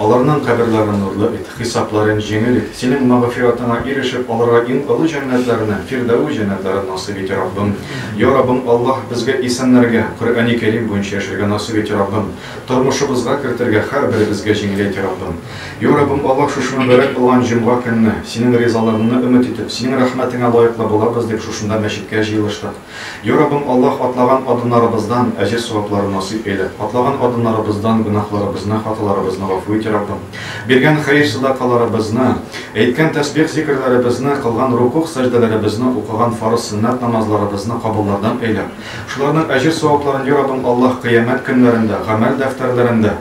Аларның каберлары нурлы бит, хисапларын җиңел ит. Синең мәгъфиратыңа ирешеп, аларга иң олы җәннәтләреннән, фирдәвес җәннәтләрен насыйп ит, Раббым. Я Раббым Аллаһ, безгә исәннәргә, Коръәни Кәрим буенча яшәргә насыйп ит, Раббым. Тормышыбызга кертергә, һәрберебезгә җиңеләйт, Раббым. Я Раббым Аллаһ, шушы мөбарәк булган җомга көнне, Синең ризалыгыңны өмет итеп, Синең рәхмәтеңә лаеклы булабыз дип, шушында мәчеткә җыелыштык. Йа Раббым Аллаһ, атлаган адымнарыбыздан әҗер-савапларын насыйп әйлә, атлаган адымнарыбыздан гөнаһларыбызны, хаталарыбызны гафу ит, Йа Раббым. Биргән хәер-садакаларыбызны, әйткән тәсбих-зикерләребезне, кылган рукугъ-сәҗдәләребезне, укыган фарыз-сөннәт намазларыбызны кабуллардан әйлә. Шуларның әҗер-савапларын, Йа Раббым Аллаһ, кыямәт көннәрендә, гамәл дәфтәрләрендә,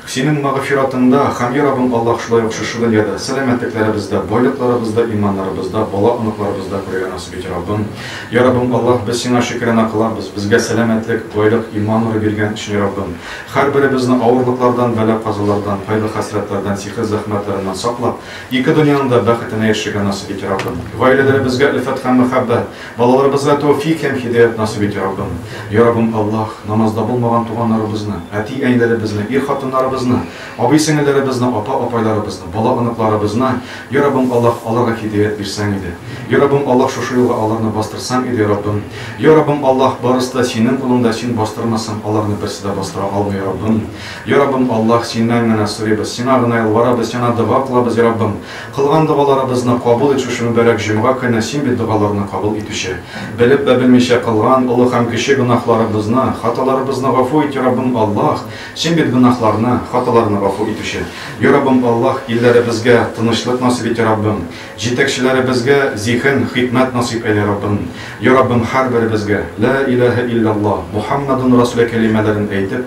Синең мәгъфиратыңда, һәм, йа Раббым Аллаһ, шулай ук шушы дөньяда, сәламәтлекләребездә, байлыкларыбызда, иманнарыбызда, бала-оныкларыбызда күрергә насыйп ит, Раббым. Йа Раббым Аллаһ, без Сиңа шөкерана кылабыз, безгә сәламәтлек, байлык, иман нуры биргән өчен, Раббым. Һәрберебезне авырлыклардан, бәла-казалардан, кайгы-хәсрәтләрдән, сихер-зәхмәтләреннән саклап, ике дөньяның да бәхетенә ирешергә насыйп ит, Раббым. Гаиләләребезгә өлфәт һәм мәхәббәт, Балаларыбызга тәүфик һәм һидаят насыйп ит, Яраббым! Яраббым Аллаһ, намазда булмаган туганнарыбызны, әти-әниләребезне, ир-хатыннарыбызны, абый-сеңелләребезне, апа-апайларыбызны, бала-оныкларыбызны, Яраббым Аллаһ, аларга һидаят бирсәң иде! Яраббым Аллаһ, шушы юлга аларны бастырсаң иде, Яраббым! Яраббым Аллаһ, барысы да Синең кулыңда, Син бастырмасаң, аларны берсе дә бастыра алмый, Яраббым! Яраббым Аллаһ, Синнән генә сорыйбыз, Сиңа гына ялварабыз, Сиңа дога кылабыз, Яраббым! Кылган догаларыбызны кабул ит Шушы мөбарәк җомга көне Син бит догаларны кабул итүче. Белеп вә белмичә кылган олы һәм кече гөнаһларыбызны, хаталарыбызны гафу ит, йа Раббым Аллаһ! Син бит гөнаһларны, хаталарны гафу итүче. Йа Раббым Аллаһ, илләребезгә тынычлык насыйп ит, йа Раббым! Җитәкчеләребезгә зиһен, хикмәт насыйп әйлә, Раббым! Йа Раббым, һәрберебезгә, Лә иләһә илляллаһ, Мухаммадун расулә кәлимәләрен әйтеп,